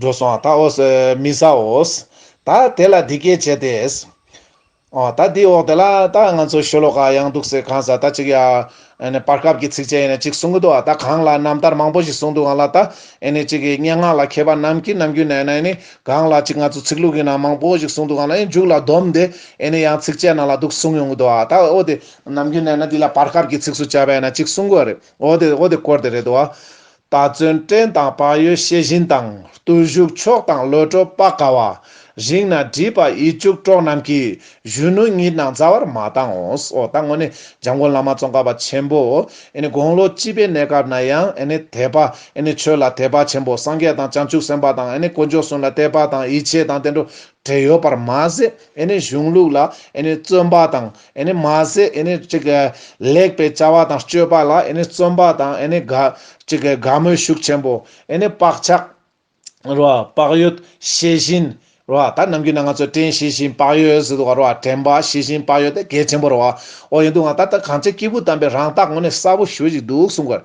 འགྲོ་སོང་ད་འོས། མི་ཟ་འོས། ད་དེ་ལ་འདི་སྐད་བྱས་ཏེ། ཨོ། ད་འདི་འོག་དེ་ལ་ད་ང་ཚོ་ཤོ་ལོ་ཀ་ཡང་འདུག་ཟེར་གང་ཟག་ད་ཅིག་ཡ། བར་སྐབས་ཀྱི་ཚིགས་བཅད་ཡིན་ན་ཅིག་གསུང་གི་འདུག་ཨ་ད་གང་ལ་རྣམ་ཐར་མང་པོ་ཞིག་གསུང་འདུག་ཨང་ལ་ད། ཅིག་གི་སྙན་ངག་ལ་མཁས་པ་རྣམས་ཀྱིས་ནམ་རྒྱུན་ནས་ཨ་ནི་གང་ལ་ཅིག་ང་ཚོ་ཚིག་ལྷུག་གི་ནང་མང་པོ་ཞིག་གསུང་འདུག་ཨང་ལ་ཨེ་མཇུག་ལ་བསྡོམས་ཏེ་ཨ་ནི་ཡང་ཚིགས་བཅད་ནང་ལ་འདུག་གསུང་ཡོང་གི་འདུག་ཨ་ད་འོ་དེ་ནམ་རྒྱུན་ན་ན་འདི་ལ་བར་སྐབས་ཀྱི་ཚིགས་སུ་བཅད་པས་ན་གཅིག་གསུངས་དགོས་རེད། འོ་དེ་འོ་དེ་སྐོར་དེ་རེད་འདུག། ད་བརྩོན་བྲལ་དང་བག་ཡོད་ཤེས་བཞིན་དང། བརྟུལ་བཞུགས་མཆོག་དང་བློ་གྲོས་དཔག་དཀའ་བ། རིང་ན་བྲིས་པ་ཡིད་གཅུགས་གྲོགས་རྣམས་ཀྱིས། གཞོན་ནུ་ཉིད་རྣམས་རྩ་བར་མ་བཏང་འོ། ད་དངོས་ནས་འཇམ་མགོན་བླ་མ་ཙོང་ཁ་པ་ཆེན་པོ། དགུང་ལོ་བཅིས་པའི་གནས་སྐབས་ན་ཡང། དད་པ། ཆོས་ལ་དད་པ་ཆེན་པོ་སངས་རྒྱས་དང་བྱང་ཆུབ་སེམས་དཔའ་དང། དཀོན་མཆོག་གསུམ་ལ་དད་པ་དང་ཡིད་ཆེས་དང་བསྟན་འགྲོ། བྲལ་ཡོད་པར་མ་ཟད་གཞུང་ལུགས་ལ་བརྩོན་པ་དང་མ་ཟད། ལེགས་པའི་བྱ་བ་དང་སྤྱོད་པ་ལ་བརྩོན་པ་དང། དགའ་མོས་ཤུགས་ཆེན་པོ། བག་ཆགས། བག་ཡོད། ཤེས་བཞིན། ད་ནམ་རྒྱུན་ན་ང་ཚོས་དྲན་ཤེས་བཞིན་བག་ཡོད་ཟེར་འདུག་བ། དྲན་པ་ཤེས་བཞིན་བག་ཡོད་དེ་གལ་ཆེན་པོ་རེད་བ། འོ་ཡིན་འདུག་ང་ད་ལྟ་གངས་ཅན་སྐྱེས་བུ་དམ་པས་རང་བདག་ངོ་ནས་གསལ་པོ་ཞུ་བཞིན་འདུག་གསུང་དགོས།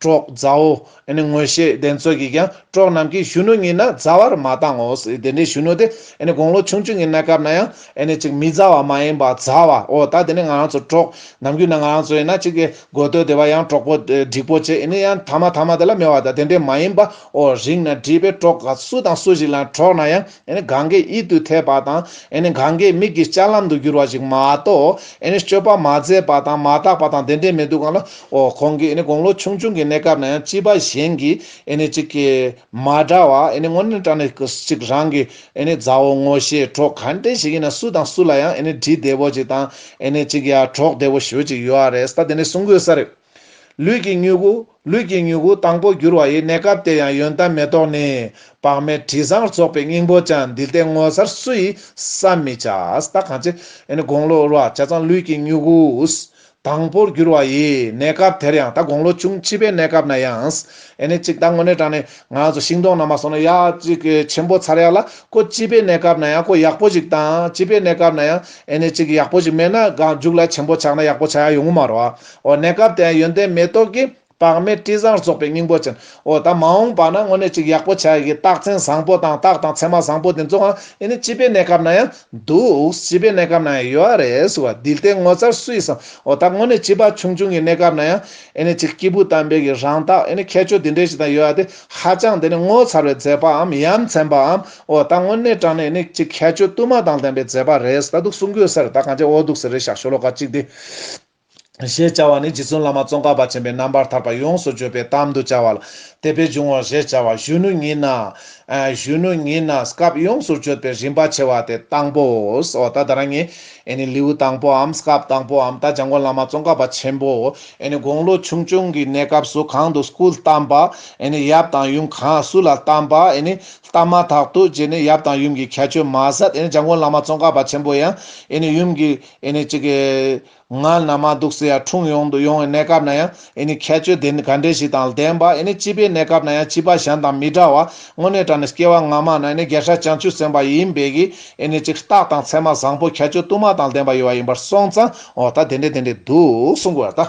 པྲོག་བཟའོ། དངོས་བཤེས་གདན་ཚོགས་ཀྱིས་ཀྱང་པྲོག་རྣམས་ཀྱིས་གཞོན་ནུ་ཉིད་ན་བཟའ་བར་མ་བཏང་ངོ། དེ་འདྲའི་གཞོན་ནུ་དེ་དགུང་ལོ་ཆུང་ཆུང་གི་གནས་སྐབས་ན་ཡང། གཅིག་མི་བཟའ་བ་མ་ཡིན་པར་བཟའ་བའོ། ད་དེ་ནི་ང་རང་ཚོ་པྲོག། ནམ་རྒྱུན་ན་ང་རང་ཚོ་ཡིན་ན་གཅིག་གི་དགོས་འདོད་དེ་བ་ཡང་པྲོག་པོ། སྒྲིག་པོ་བྱེད་ཡིན་ནི་ཡང་ཐ་མ་ཐ་མ་དེ་ལ་མེད་བ་དང་དེ་འདྲའི་མ་ཡིན་པའོ། རིང་ན་བྲིས་པའི་པྲོག། སུ་དང་སུ་ཞིག་ལ་ཡང་པྲོག་ན་ཡང། གངྒཱའི་དབྱིབ་ཏུ་ཐལ་བ་དང། གངྒཱའི་མིག་གི་ལྕགས་ལམ་དུ་གྱུར་བ་ཞིག་མ་གཏོགས། སྤྱོད་པ་མ་མཛད་པ་དང་མ་བརྟགས་པ་དང་དེ་འདྲའི་མི་འདུག་གམ། གོང་གི་དགུང་ལོ་ཆུང་ཆུང་གི་གནས་སྐབས་ན་ཡང་སྐྱིད་པ་གཞན་གྱིས་ཅིག་གིས་མ་འདྲ་བ། དངོས་གནས་དྲ་ནས་ཅིག་རང་གི་མཛའ་བོ་ངོ་ཤེས་གྲོགས་ག་འདྲས་ཞིག་ཡིན་ན་སུ་དང་སུ་ལ་ཡང་འདྲིས་བདེ་བོ་ཅིག་དང། ཅིག་ཡ་གྲོགས་བདེ་བོ་ཞུ་བ་ཅིག་ཡོད་རེད་ད་དེ་འདྲས་གསུང་དགོས་ས་རེད། ལུས་ཀྱི་མྱུ་གུ། ལུས་ཀྱི་མྱུ་གུ་དང་པོ་འགྱུར་བ་ཡི་གནས་སྐབས་དེ་ཡང་ཡོན་ཏན་མེ་ཏོག་ནི། བག་མེད་དྲི་བཟང་རྫོགས་པའི་སྙིང་པོ་ཅན་འདི་སྟེ་ངོ་མཚར་སུ་ཡིས་བསམ་མི་བྱ། ད་གང་ཅི། དགུང་ལོ་རུ་བ་བྱ་ཙང་ལུས་ཀྱི་མྱུ་གུ། དང་པོར་འགྱུར་བ་ཡི་གནས་སྐབས་དེར་ཡང་ད་དགུང་ལོ་ཆུང་བྱིས་པའི་གནས་སྐབས་ན་ཡང། གཅིག་ད་ངོ་ནས་དྲངས་ནས་ང་ཚོ་ཤིང་སྡོང་ན་མ་སོང་ན་ཡ། གཅིག་ཆེན་པོ་ཚར་ཡག་ལ་ཁོ་བྱིས་པའི་གནས་སྐབས་ན་ཡང་ཁོ་ཡག་པོ་ཞིག་དང་བྱིས་པའི་གནས་སྐབས་ན་ཡང། གཅིག་ཡག་པོ་ཞིག་མེད་ན་གང་མཇུག་ལ་ཆེན་པོ་ཆགས་ན་ཡག་པོ་ཆགས་ཡག་ཡོང་གི་མ་རོ། འོ་གནས་སྐབས་དེའང་ཡོན་ཏན་མེ་ཏོག་གིས་དཔག་མེད་དྲི་བཟང་རྫོགས་པའི་སྙིང་པོ་ཅན། འོ་ད་མ་འོངས་པ་ན་དངོས་གནས་ཅིག་ཡག་པོ་བྱ་ཡི་རྟགས་མཚན་བཟང་པོ་དང་རྟགས་དང་མཚན་མ་བཟང་པོ་དེ་ཚོའང་ཨེ་ནི་སྤྱི་པའི་གནས་སྐབས་ན་ཡང་འདུག་སྤྱི་པའི་གནས་སྐབས་ན་ཡང་ཡོད་རེད་ཟེར་བ་དིལ་ཏའི་ངོ་ཚར་སུ་ཡིས་སམ་འོ་ད་དངོས་གནས་སྤྱི་པ་ཆུང་ཆུང་གི་གནས་སྐབས་ན་ཡང་ཨེ་ནི་ཅིག་སྐྱེས་བུ་དམ་པའི་གི་རང་རྟགས་ཨེ་ནི་ཁྱད་ཆོས་དེ་འདྲའི་ཞིག་དང་ཡོད་ཡ་དེ་ཧ་ཅང་དེ་ནི་ངོ་ཚར་བའི་མཛད་པའམ་ཡ་མཚན་པའམ་འོ་ད་དངོས་གནས་དྲང་ནས་ཨེ་ནི་ཅིག་ཁྱད་ཆོས་བསྟུད་མ་དང་ལྡན་པའི་མཛད་པ་རེད་ད་འདུག་གསུང་དགོས་ཟེར་ད་གང་ཅི་འོ་འདུག་ཟེར་རེད་ཞག་ཞོ་ལོ་ཀ་གཅིག་དེ། ཞེས་བྱ་བ་ནི་རྗེ་བཙུན་བླ་མ་ཙོང་ཁ་པ་ཆེན་པོས་རྣམ་པར་ཐར་པ་ཡོངས་སུ་བརྗོད་པའི་གཏམ་དུ་བྱ་བ་ལ་དད་པས་འབྱུང་བར་ཞེས་བྱ་བ་གཞོན་ནུ་ཉིད་ན། གཞོན་ནུ་ཉིད་ན་སྐབས་ཡོངས་སུ་གཅོད་པའི་རིམ་པ་ཕྱེ་བ་དེ་དང་པོའོ། ད་ལྟ་རང་ཉིད་ནི་ལེའུ་དང་པོའམ་སྐབས་དང་པོའམ་ད་ལྗང་གུ་བླ་མ་ཙོང་ཁ་པ་ཆེན་པོ་དགུང་ལོ་ཆུང་ཆུང་གི་གནས་སྐབས་སུ་གང་དུ་སྐུ་བལྟམས་པ། ཡབ་དང་ཡུམ་གང་སུ་ལ་བལྟམས་པ། བལྟམས་མ་ཐག་ཏུ་རྗེ་ནི་ཡབ་དང་ཡུམ་གྱི་ཁྱད་ཆོས་མ་ཟད་ལྗང་གུ་བླ་མ་ཙོང་ཁ་པ་ཆེན་པོ་ཡང་ཡུམ་གྱི་ཨེ་ནི་ཅི་གི། ང་ན་མ་སྡུག་སེ་ཡ་འཁྲུངས་ཡོང་དུ་ཡོང་བའི་གནས་སྐབས་ན་ཡང་ཨེ་ནི་ཁྱད་ཆོས་དེ་ག་འདྲས་ཞིག་དང་ལྡན་པ་ཨེ་ནི་སྐྱིད་པའི་གནས་སྐབས་ན་ཡང་སྐྱིད་པ་གཞན་དང་མི་འདྲ་བ་དངོས་གནས་དྲ་ནས་སྐྱེ་བ་སྔ་མ་ན་ཨེ་ནི་རྒྱལ་ཧྲལ་བྱང་ཆུབ་སེམས་དཔའ་ཡིན་པས་ཀྱི་ཨེ་ནི་ཅི་རྟགས་དང་མཚན་མ་བཟང་པོ་ཁྱད་ཆོས་དུ་མ་དང་ལྡན་པ་ཡོད་པ་ཡིན་པར་སོང་ཙང་འོ་ད་དེ་འདྲས་དེ་འདྲས་འདུག་གསུང་དགོས་པ་ལྟ།